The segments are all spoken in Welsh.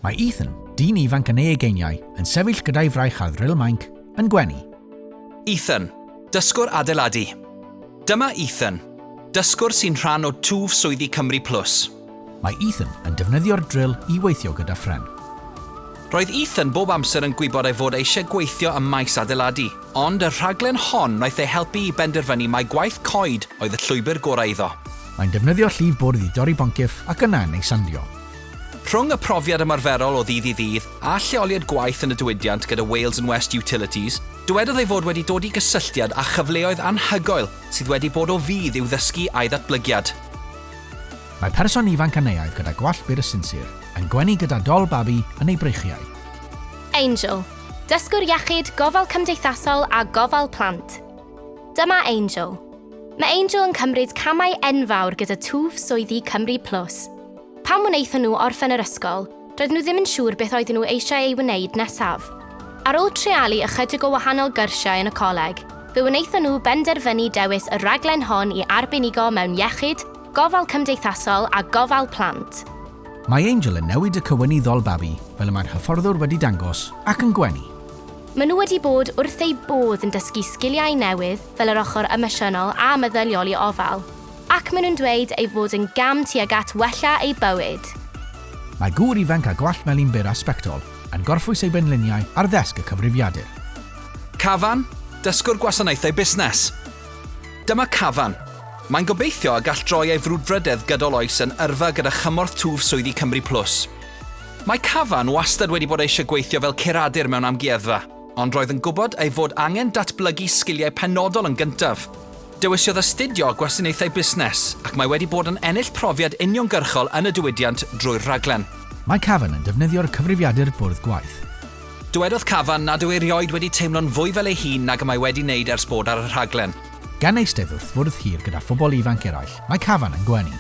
Mae Ethan, dyn ifanc yn ei ugeiniau, yn sefyll gyda'i fraich ar ddril mainc, yn gwenu. Ethan, dysgwr adeiladu. Dyma Ethan, dysgwr sy'n rhan o twf swyddi Cymru Plus. Mae Ethan yn defnyddio'r dril i weithio gyda phren. Roedd Ethan bob amser yn gwybod ei fod eisiau gweithio ym maes adeiladu, ond y rhaglen hon wnaeth ei helpu i benderfynu mai gwaith coed oedd y llwybr gorau iddo. Mae'n defnyddio llif bwrdd i dorri boncyff ac yna yn ei sandio. Rhwng y profiad ymarferol o ddydd i ddydd a lleoliad gwaith yn y diwydiant gyda Wales and West Utilities, dywedodd ei fod wedi dod i gysylltiad â chyfleoedd anhygoel sydd wedi bod o fudd i'w ddysgu a'i ddatblygiad. Mae person ifanc Aneaidd gyda gwallt byr a sinsir, yn gwenu gyda dol babi yn ei breichiau. Angel, dysgwr iechyd, gofal cymdeithasol a gofal plant. Dyma Angel. Mae Angel yn cymryd camau enfawr gyda twf swyddi Cymru Plus. Pan wnaethon nhw orffen yr ysgol, doedden nhw ddim yn siŵr beth oedden nhw eisiau ei wneud nesaf. Ar ôl treialu ychydig o wahanol gyrsiau yn y coleg, fe wnaethon nhw benderfynu dewis y rhaglen hon i arbenigo mewn iechyd, gofal cymdeithasol a gofal plant. Mae Angel yn newid y cywynyddol babi, fel y mae'r hyfforddwr wedi dangos, ac yn gwenu. Maen nhw wedi bod wrth eu bodd yn dysgu sgiliau newydd fel yr ochr emosiynol a meddyliol i ofal. Ac maen nhw'n dweud ei fod yn gam tuag at wella eu bywyd. Mae gŵr ifanc â gwallt melyn byr a sbectol yn gorffwys ei benliniau ar ddesg y cyfrifiadur. Cavan, Dysgwr Gwasanaethau Busnes. Dyma Cavan. Mae'n gobeithio y gall droi ei frwdfrydedd gydol oes yn yrfa gyda chymorth twf swyddi Cymru Plus. Mae Cavan wastad wedi bod eisiau gweithio fel curadur mewn amgueddfa. Ond roedd yn gwybod ei fod angen datblygu sgiliau penodol yn gyntaf. Dewisiodd astudio Gwasanaethau Busnes ac mae wedi bod yn ennill profiad uniongyrchol yn y diwydiant drwy'r rhaglen. Mae Cavan yn defnyddio'r cyfrifiadur bwrdd gwaith. Dywedodd Cavan nad yw erioed wedi teimlo'n fwy fel ei hun nag y mae wedi wneud ers bod ar y rhaglen. Gan eistedd wrth fwrdd hir gyda phobl ifanc eraill, mae Cavan yn gwenu.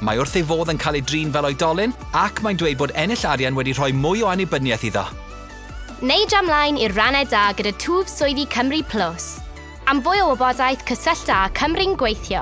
Mae wrth ei fodd yn cael ei drin fel oedolyn ac mae'n dweud bod ennill arian wedi rhoi mwy o annibyniaeth iddo. Neu dra mlaen i'r rannau da gyda twf swyddi Cymru Plus. Am fwy o wybodaeth cysyllta â Cymru'n Gweithio.